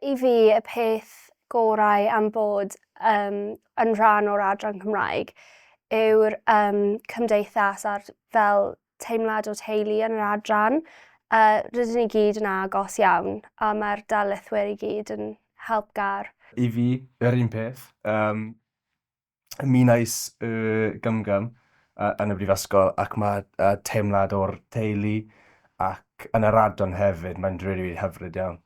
i fi y peth gorau am bod um, yn rhan o'r adran Cymraeg yw'r um, cymdeithas a'r fel teimlad o teulu yn yr adran. Uh, rydyn ni gyd yn agos iawn a mae'r darlithwyr i gyd yn helpgar. I fi, yr un peth. Um, mi wnaes y gymgam yn y brifysgol ac mae teimlad o'r teulu ac yn yr adran hefyd, mae'n rili, rili hyfryd iawn.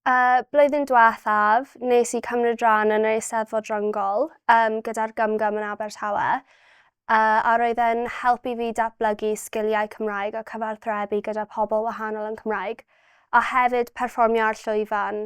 Y blwyddyn diwethaf, nes i cymryd rhan yn yr Eisteddfod Ryngol um, gyda'r gymgam yn Abertawe, uh, a roedd e'n helpu fi datblygu sgiliau Cymraeg a cyfarthrebu gyda pobl wahanol yn Cymraeg, a hefyd perfformio ar llwyfan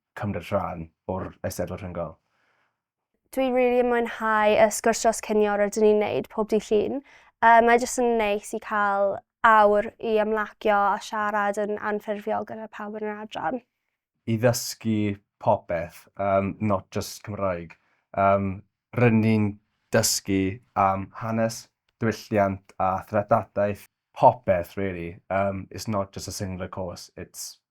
cymryd rhan o'r Eisteddfod Rhyngol. Dwi rili yn mwynhau y sgwrs dros cinio rydyn ni'n neud pob dydd Llun. Yy mae jyst yn neis i cael awr i ymlacio a siarad yn anffurfiol gyda pawb yn yr adran. I ddysgu popeth, yym not just Cymraeg. Yym rydyn ni'n dysgu am hanes, diwylliant a threftadaeth, popeth rili, yym it's not just a singular course, it's